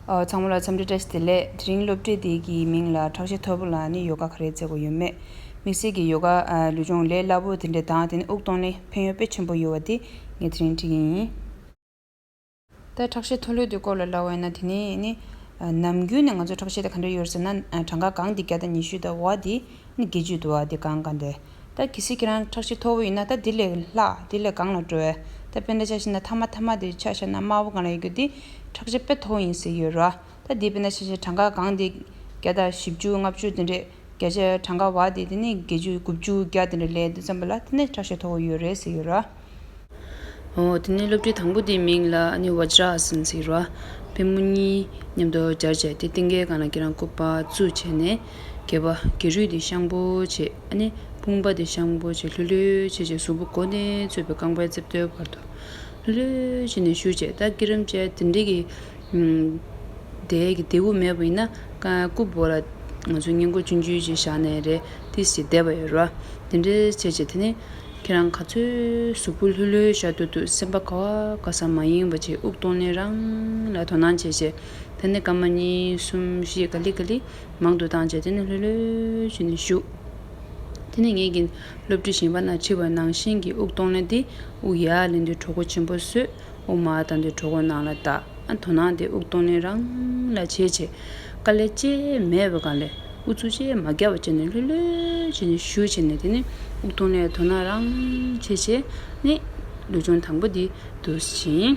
ཚང་མ་ལ་འཚམས་འདྲི་བཀྲ་ཤིས་བདེ་ལེགས། དེ་རིང་སློབ་ཁྲིད་འདི་གི་མིང་ལ་ཁྲག་ཤེད་ཐོར་བུ་ལ་ནི་ཡོ་ག་ག་རེ་བརྩེ་བ་ཡོད་མེད་དམིགས་བསལ་གྱི་ཡོ་ག་ལུས་སྦྱོང་ལས་སླ་པོ་དེ་འདྲའི་དང་དེ་ནི་དབུགས་གཏོང་ལས་ཕན་ཡོད་དཔེ་ཆེན་པོ་ཡོད་བ་འདི་ངས་དེ་རིང་ཁྲིད་ཀྱི་ཡིན། ད་ཁྲག་ཤེད་མཐོ་ལོས་དུས་སྐོར་ལ་ལ་བས་ན་དེ་ནས་ནི། ནམ་རྒྱུན་ནས་ང་ཚོས་ཁྲག་ཤེད་དེ་ག་འདྲ་ཡོད་རེད་ཟེར་ན་གྲངས་ཀ་གང་འདི་བརྒྱ་དང་ཉི་ཤུ་དང་བ་འདི་ནི་བརྒྱད་ཅུ་དུ་བ་འདི་གང་ག་འདི། ད་གལ་སྲིད་ཁྱེད་རང་ཁྲག་ཤེད་མཐོ་བོ་ཡིན་ན་ད་འདི་ལས་ལྷག་འདི་ལས་གང་ལ་སྤྲོ་བས་ད་དཔེ་འདྲ་ཆགས་ཤེ་ན་ཐ་མ་ཐ་མ་འདི་ཆགས་ཤེ་ན་དམའ་བོ་གང་ལ་ཡོད་རྒྱུ་འདི་ཁྲག་ཤེད་དཔེ་མཐོ་བོ་ཡིན་ཟེར་གྱི་ཡོད་རོ། ད་འདི་དཔེ་འདྲ་ཆགས་ཤེ་ན་གྲངས་ཀ་གང་འདི་བརྒྱ་དང་བཞི་བཅུ་ལྔ་བཅུ་འདི་འདྲས་བརྒྱ་ཆའི་གྲངས་ཀ་བ་དེ་དེ་ནས་བརྒྱད་ཅུ་དགུ་བཅུ་བརྒྱ་དེ་འདྲ་ལས་འདུག་བསམ་པ་ལ་དེ་ནས་དྲག་ཤོས་མཐོ་བོ་ཡོད་རེད་ཟེར་ཡོད་ར། འོ་དེ་ནས་སློབ་གྲྭའི་དང་པོ་དེའི་མིང་ལ་ནི Vajrasan ཟེར་ཡོད་ར། ཕལ་མོ་གཉིས་མཉམ་དུ་སྦྱར་བྱས་ཏེ་སྟེང་གའི་ག་ན་གི་རང་བཀོད་པ་བཙུགས་བྱས་ནས་གྱེས་པ་གྱེས་རུས་དེ་ཤངས་པོ་བྱེད་ཨ་ནི་དཔུང་པ་དེ་ཤངས་པོ་བྱེད་ལྷོད་ལྷོད་བྱེད་བྱེད་གཟུགས་པོ་མགོ་ནས་གཙོས་པའི་རྐང་པའི་རྩིབ་ལྟོའི་བར་དུ་ལྷོད་ལྷོད་བྱས་ནས་བཞུར་བྱས་ད་ཀི་རིམ་བཅས་དེ་འདྲ་གི། དེ་ཡི་གེ་དེ་དབུ་མེད་པ་ཡིན་ན། ཀུ་བོ་ལ། ང་ཚོས་བསྙེན་བཀུར་སྤྱོད་འཇུག་ཅིག་བཞག་ནས་རེ་ཏིས་ཀྱི་བཟླས་པ་ཡོད་རོ། དེ་འདྲའི་བྱེད་ཅིག་དེ་ནི། ཁྱེད་རང་ག་ཚོད་གཟུགས་པོ་ལྷོད་ལྷོད་ཤར་དུ་འདུག་སེམས་པ་ག་བ་ག་ས་མ་ཡིན་པ་ཅིག་དབུགས་གཏོང་ནས་རང་ལ་དོ་སྣང་བྱེད་ཅིག། ད་ནི་སྐར་མ་གཉིས་གསུམ་བཞི་ག་ལི་ག་ལི་མང་དུ་བཏང་བྱས་དེ་ནི་ལྷོད་ལྷོད་བྱས་ནས་བཞུགས། དེ་ནི་ངེད་ཀྱི་སློབ་ཁྲིད་ཞིང་པ་ན་འཁྲིད་པ་ནང་བཞིན་གྱི་དབུགས་གཏོང་ལེན་ཏེ་དབུགས་ཡར་ལེན་དུས་གྲོགས་པོ་ཆེན་པོ་བསོད་ཨོ་མ་ད་འདོད་གྲོགས་ནང་ལ་བལྟ། ཨ་དོ་ནང་དེ་དབུགས་གཏོང་ལེན་རང་ལ་བྱེད། ཆེ་དཀའ་ལས་ཅེ་མེད་པའི་སྒང་ལས་ཨུ་ཚུགས་ཅེ་མ་རྒྱ་བ་ཅེ་ནས་ལྷོད་ལྷོད་ཅེ་ནས་ཞུ་བྱེད་ནས་དེ་ནི་དབུགས་གཏོང་ལས་དོ་ནང་རང་བྱེད་བྱེད་ནི། ལུས་སྦྱོང་དང་པོ་འདི་དུ་ཕྱིན།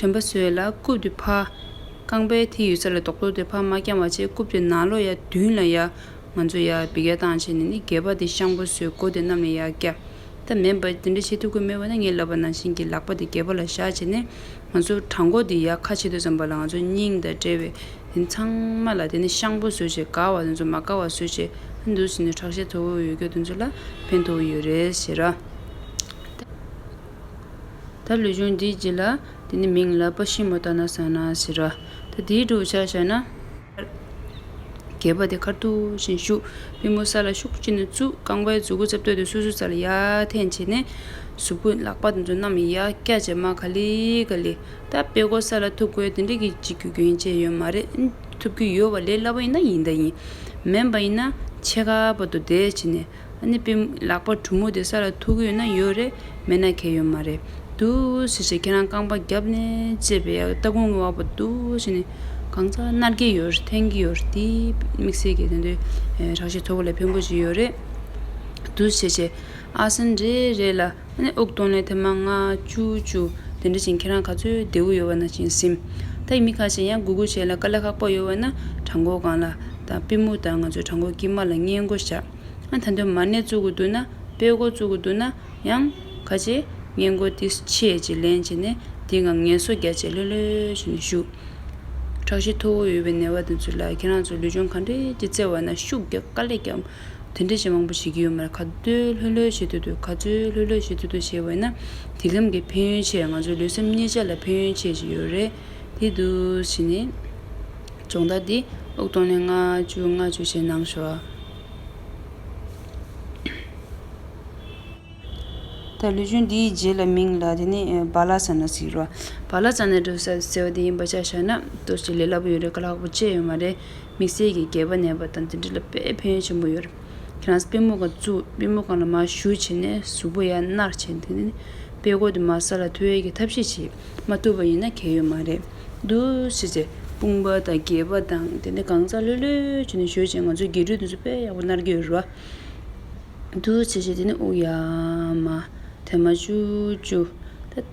དྲན་པ་ཟོས་ལ་རྐུབ་ཏུ་ཕ། རྐང་པའི་མཐིལ་ཡོད་ས་ལ་རྡོག་རྡོག་དེ་ཕ་མ་རྐྱང་བ་ཆེ་རྐུབ་ཏུ་ནག་ལོ་ཡ་བདུན་ལ་ཡ། ང་ཚོ་ཡ་བི་ག་བཏང་བྱས་ནས་ནི་རྒས་པ་དེ་ཤང་པོ་ཟོས་གོ་དེ་རྣམས་ལ་ཡ་སྐྱ། ད་མེན་པ་དེ་འདྲ་བྱེད་ཐུབ་ཀི་མེད་པ་ན་ངས་ལབ་པ་ནང་བཞིན་གྱི་ལག་པ་དེ་རྒས་པ་ལ་བཞག་བྱས་ནས་ང་ཚོ་བྲང་མགོ་དེ་ཡ་ཁ་ཕྱེ་འདོད་བསམ་པ་ལ་ང་ཚོ་སྙིང་དང་དབྲལ་བས་དེ་ཚང་མ་ལ་དེ་ནི་ཤང་པོ་ཟོས་བྱས་དགའ་བ་དེ་ཚོ་མ་དགའ་བ་ཟོས་བྱས་ཨ་འདུག་ཟེར་ནས་ཁྲག་ཤེད་མཐོ་བོ་ཡོད་སྐྱོ་དེ་ཚོ་ལ་ཕན་ཐོག་ཡོད་རེད་ཟེར། ད་ལུས་སྦྱོང་འདིའི་རྗེས་ལ་དེ་ནི་མིང་ལ་པ་ཤིན་མོ་ཏཱ་ན་སང་ན་ཟེར་རོ། ད་དེའི་བསྒྲུབ་བྱ་བྱ་ན། གད་པ་དེ་ཁར་ཐུག་བཞིན་གཞུག། པུས་མོ་ས་ལ་ཤུགས་ཀྱིས་ནི་བཙུག། རྐང་པའི་གཟུགས་སྐུ་རྩེ་བསྟོད་དེ་སུ་སུ་རྩ་ལ་ཡར་འཐེན་བྱས་ནས། གཟུགས་སྐུ་ལག་པ་དང་མཚོན་རྣམས་ཡར་བཀྱག་བྱས་མ་ག་ལི་ག་ལི། ད་དཔེ་གོ་ས་ལ་ཐུག་དགོས་དེ་འདྲ་གི་ཅིག་རྒྱུ་རྐྱེན་ཅི་ཡོད་མ་རེད། ཐུབ་ཀྱི་ཡོད་བ་ལས་སླ་བ་ཡིན་ན་ཡིན་ད་ཡིན། མེན་པ་ཡིན་ན་ཆེ་ཁ་པ་དུ་བསྡད་བྱས་ནས། གནས་པའི་ལག་པ་གྲུ་མོ་དེ་ས་ལ་ཐུག་ཡོད་ན་ཡོད་རེད་མེད་ན་གས་ཡོད་མ་རེད་དུ་ཟེར་བྱས་ཁྱེད་རང་རྐང་པ་རྒྱབ་ནས་བཅད་པའི་སྟ་གོན་གྱི་བ་པོ་དུ་བྱས་ནས་གང་ཟག་མནར་གྱི་ཡོད་རེད་འཐེན་གྱི་ཡོད་རེད་དེ་དམིགས་བསལ་གྱི་དེ་འདྲའི་དྲག་ཤ་ཚོ་ག་ལས་ཕན་པོ་ཞིག་ཡོད་རེད་དུ་བྱས་བྱས་ཨ་སན་རེད་རེད་ལ། ཨ་ནེ་དབུགས་གཏོང་ལས་དེ་མ་ང། ཅུ་ཅུ། དེ་འདྲ་བཞིན་ཁྱེད་རང་ག་ཚོད་བདེའུ་ཡོད་བ་ན་བཞིན་སིམས། ད་ཡིན་མི་ཁ་ཤས་ཡང་སྒུག་སྒུག་བྱས་ལ་དཀའ་ལས་ཁག་པོ་ཡོད་བ་ན་བྲང་འགོ་སྒང་ལ། ད་པི་མུ་ད་ང་ཚོའི་བྲང་འགོ་དཀྱིལ་མ་ལ་སྙན་སྒོ་བཞག། ཨ་ད་འདོད་མ་ནས་བཙུག་གི་འདུག་ན་སྤེལ་འགོ་བཙུག་གི་འདུག་ན་ཡང། ཁ་ཆེ། སྙན་སྒོ་འདི་ཆེད་ཅིག་ལེན་བྱེད་ནས་འདི་འང་ངལ་གསོ་རྒྱ་ཆེ་ལོས་ལོས་བྱེད་ནས་བཞུགས། ཁྲག་ཤེད་མཐོ་བོ་ཡོད་པའི་ནད་བ་དེ་ཚོ་ལ་ཁྱེད་རང་ཚོ་ལུས་སྦྱོང་ག་འདྲའི་ཅིག་བརྩེ་བ་ན་ཤུགས་རྒྱག་དཀའ་ལས་རྒྱག། དེ་འདྲའི་གཞན་མང་པོ་བྱེད་ཀྱི་ཡོད་མར་ག་དུས་ལྷོད་ལྷོད་བྱེད་འདོད་དུ་ག་ཚོད་ལྷོད་ལྷོད་བྱེད་འདོད་དུ་བྱེད་བས་ན་དེ་ལམ་གྱི་ཕན་ཡོན་ཆེད་ང་ཚོའི་ལུས་སེམས་གཉིས་ཆ་ལ་ཕན་ཡོན་ཆེ་ཞིག་ཡོད་རེད་དེ་དུས་བྱས་ནས། སྦྱོང་བརྡར་འདི་ཨུག་སྟོང་ནས་ལྔ་བཅུ་ལྔ་བཅུ་བཞེས་གནང་ཞོག། ད་ལུས་སྦྱོང་འདིའི་རྗེས་ལ་མིང་ལ་དེ་ནས་བ་ལ་ས་ན་ཟིག་རོ། བ་ལ་ས་ན་འགྲོ་ས་ཟེར་བ་དེ་ཡིན་པ་ཆ་བཞག་ན་ལྟོས་ཤིག་ལས་སླ་པོ་ཡོད་རེད་ག་ལྷག་པོ་དཔྱད་ཡོད་མ་རེད། དམིགས་བསལ་གྱི་རྒྱལ་བ་ནད་པ་དང་འདི་འདྲ་ལ་དཔེ་ཕན་ཡོན་ཆེན་པོ་ཡོད་རེད། ཁྱེད་རང་སྤེན་མོ་གང་བཙུགས་སྤེན་མོ་གང་ལ་མ་ཞུ་བྱས་ནས་གཟུགས་པོ་ཡར་མནར་བྱས་འདུག་ནི། དཔེ་ཀོ་དུ་མ་ས་ལ་ཐོལ་གྱིས་ཐབས་ཤེས་བྱེད་མ་ཐུབ་པ་ཡིན་ན་གལ་ཡོད་མ་རེད་འདུག་ཤེས་བྱའི་དཔུང་པ་དང་རྒྱལ་བ་དང་དེ་འདྲ་གང་ཟག་ལྷོད་ལྷོད་བྱས་ནས་ཞུ་བྱས་ང་ཚོའི་རྒྱལ་གྲུས་དེ་ཚོ་དཔེ་ཡག་པོ་མནར་གྱི་ཡོད་རེད་བ། འདུག་ཤེས་བྱའི་དེ་ནི་དབུགས་ཡལ་མ་ཐལ་མ་བཅུ་བཅུ།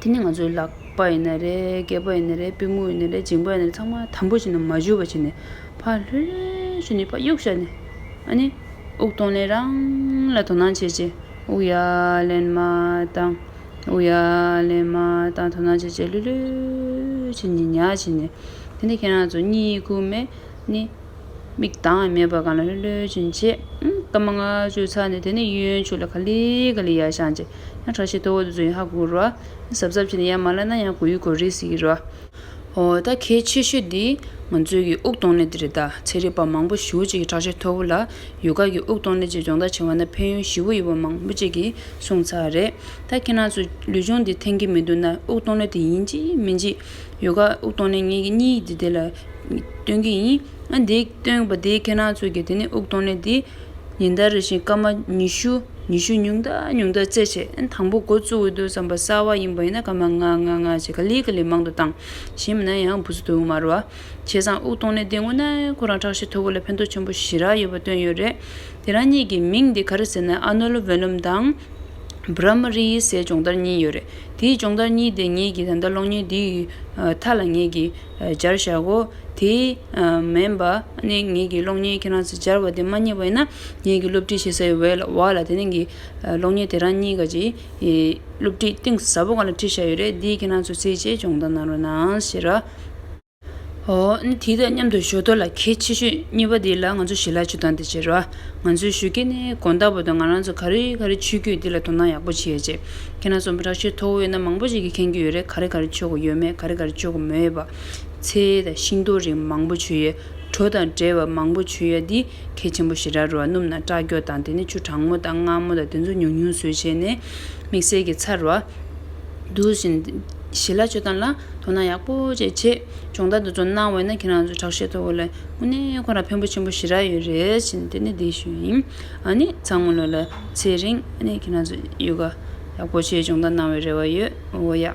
དེ་ནི་ང་ཚོའི་ལག་པ་ཡིན་ན་རེད་སྐེད་པ་ཡིན་ན་རེད་པུས་མོ་ཡིན་ན་རེད་མཇིང་པ་ཡིན་ན་རེད་ཚང་མ་དམ་པོ་བྱས་ནས་མ་བཞུར་བ་བྱས་ནས་ཕར་ལྷོད་ལྷོད་བྱས་ནས་ཕར་གཡུག་བྱས་ནས་ཨ་ནི་དབུགས་གཏོང་ལེན་རང་ལ་དོ་སྣང་བྱས་རྗེས་དབུགས་ཡར་ལེན་མ་བཏང་དབུགས་ཡར་ལེན་མ་བཏང་དོ་སྣང་བྱས་རྗེས་ལྷོད་ལྷོད་བྱས་ནས་ཉལ་བྱས་ནས་དེ་ནི་ཁྱེད་རང་ཚོ་གཉིད་ཁུག་མས་ནི་མིག་གདངས་མེད་པ་གང་ལ་ལྷོད་ལྷོད་བྱས་རྗེས་སྐར་མ་ལྔ་བཅུ་ཚར་ནས་དེ་ནི་གཡོན་ཕྱོགས་ལ་ག་ལི་ག་ལི་ཡར་བཤངས་རྗེས་ཡང་གྲགས་ཆེ་དོ་འོ་དོ་ཚོ་ཡང་ཧ་གོ་རོ། གཟབ་གཟབ་བྱས་ནས་ཡར་མ་བསླེབས་ན་ཡང་གོ་ཡུལ་གོ་རིས་ཡིན་རོ། ཨོ་ད་གལ་ཆེ་ཤོས་འདི་ང་ཚོའི་གི་དབུགས་གཏོང་ལས་དེ་རེད་ད་ཚན་རིག་པ་མང་པོ་བཞི་བོ་བཅས་ཀྱི་གྲགས་ཆེ་མཐོ་བོ་ལ་ཡུལ་སྐར་གྱི་དབུགས་གཏོང་ལས་བཅས་སྦྱོང་བརྡར་བྱེད་བ་ན་ཕན་ཡོན་བཞི་བོ་ཡོད་པ་མང་པོ་བཅས་ཀྱི་གསུངས་ཚར་རེད་ད་ཁྱེད་རང་ཚོས་ལུས་སྦྱོང་འདི་འཐེན་གི་མི་འདུག་ན་དབུགས་གཏོང་ལས་དེ་ཡིན་གཅིག་མིན་གཅིག་ཡུལ་སྐར་དབུགས་གཏོང་ལས་གཉིས་ཡིད་དེ་ལ་སྟོན་གི་ཡིན། ཨ་འདིའི་སྟོན་པ་དེའི་ཁེ་ནང་ཚུད་ཀྱི་དེ་ནས་དབུགས་གཏོང་ནས་དེ། ཉིན་ལྟར་རེ་བཞིན་སྐར་མ་ཉི་ཤུ། ཉི་ཤུ་ཉུང་དག་ཉུང་དག་བརྩད་བྱས། དང་པོ་འགོ་བཙུགས་འོས་འདུག་བསམ་པ་གསར་བ་ཡིན་པ་ཡིན་ན་སྐར་མ་ལྔ་ལྔ་ལྔ་ཞེས་ག་ལི་ག་ལི་མང་དུ་བཏང། གཞན་མིན་ན་ཡང་བུ་ཚོ་དུ་མ་རུ་བ། བྱས་ཙང་དབུགས་གཏོང་ནས་དེ་སྔོན་ན་ཁོ་རང་ཁྲག་ཤེད་མཐོ་བོ་ལ་ཕན་ཐོགས་ཆེན་པོ་ཞེ་རག་ཡོད་པ་སྟོན་ཡོད་རེད། དེ་རང་གཉིས་ཀྱི་མིང་དེ་ག་རེ་ཟེར་ན་ཨ་ནོ་ལོ་བོན་ལུམ་དང། བྷ་ར་མ་རི་ཡི་སའི་སྦྱོང་བརྡར་གཉིས་ཡོད་རེད། དེའི་སྦྱོང་བརྡར་གཉིས་དེ་ངེད་ཀྱིས་ད་ལྟ་གློག་བརྙན་འདིའི་མཐའ་ལ་ངེད་ཀྱིས་སྦྱར་བཞག་གོ། དེ་མིན་པ་ནི་ངེད་ཀྱི་གློག་བརྙན་ཁྱེད་རང་ཚོས་སྦྱར་བ་དེ་མ་རྙེད་པ་ཡིན་ན། ངེད་ཀྱིས་སློབ་ཁྲིད་བྱེད་སའི་འོས་ལ་བག་ལ་དེ་རིང་གི་གློག་བརྙན་དེ་རང་གཉིས་ཀ་ཀྱི་སློབ་ཁྲིད་གཏིང་ཟབ་པོ་གང་ལ་ཁྲིད་བཞག་ཡོད་རེད་འདིའི་ཁྱེད་རང་ཚོས་རྩིས་བྱས་སྦྱོང་བརྡར་གནང་རོགས་གནང་ཞེས་ར། ཧོ། དེའི་ཐད་མཉམ་དུ་ཞོ་སྟོད་ལ་གལ་ཆེ་ཤོས་གཉིས་པ་འདི་ལ་ང་ཚོས་ཞི་ལྷག་ཆུ་དྭངས་དེ་བྱེད་ར། ང་ཚོས་ཞུ་རྒྱུ་ནི་དགོན་བདག་པོ་དང་ང་རང་ཚོ་ག་རེ་ག་རེ་ཆུད་རྒྱུ་འདི་ལ་དོ་སྣང་ཡག་པོ་བྱེད་ཡ་ཆེད། ཁྱེད་རང་ཚོ་འབྲག་ཆུའི་ཐོག་འོས་ན་མང་པོ་ཞིག་གིས་མཁྱེན་རྒྱུ་ཡོད་རེད་ག་རེ་ག་རེ་ཆོད་གོ་ཡོད་མེད་ག་རེ་ག་རེ་ཆོད་གོ་མེད་པ། ཚེ་ཡས་དང་ཤིང་ཏོག་རིགས་མང་པོ་བྱུ་ཡས། གྲོ་དང་འབྲས་བ་མང་པོ་བྱུ་ཡས་འདི་གས་ཆེན་པོ་ཞེ་དྲག་རུ་བ་སྣུམ་དང་སྐྲ་འགྱོགས་དང་དེ་ནས་ཆུ་གྲང་མོ་དང་མངར་མོ་དང་དེ་ཚོ་ཉུང་ཉུང་ཟོས་བྱས་ནས། དམིགས་བསལ་གྱི་ཚར་བ། དུག་བཞིན། ཞི་ལ་བཅོས་སྟངས་ལ་དོ་སྣང་ཡག་པོ་བཅས་བྱས། སྦྱོང་བརྡར་འདི་ཚོ་གནང་བས་ན་ཁྱེད་རང་ཚོའི་དྲག་ཤེས་ཐོག་ལས་དངོས་གནས་ཁོ་རང་ཕན་པོ་ཆེན་པོ་ཞེ་དྲག་ཡོད་རེད་བཞིན་དེ་ནས་འདི་ཞུས་ཡིན། ཨཱ་ནི་ཚང་མ་ལོ་ལ་ཚེ་རིང་ཨཱ་ནི་ཁྱེད་རང་ཚོ་ཡོ་ག་ཡག་པོ་བྱས་སྦྱོང་བརྡར་གནང་བའི་རེ་བ་ཡོད་འོ་ཡག།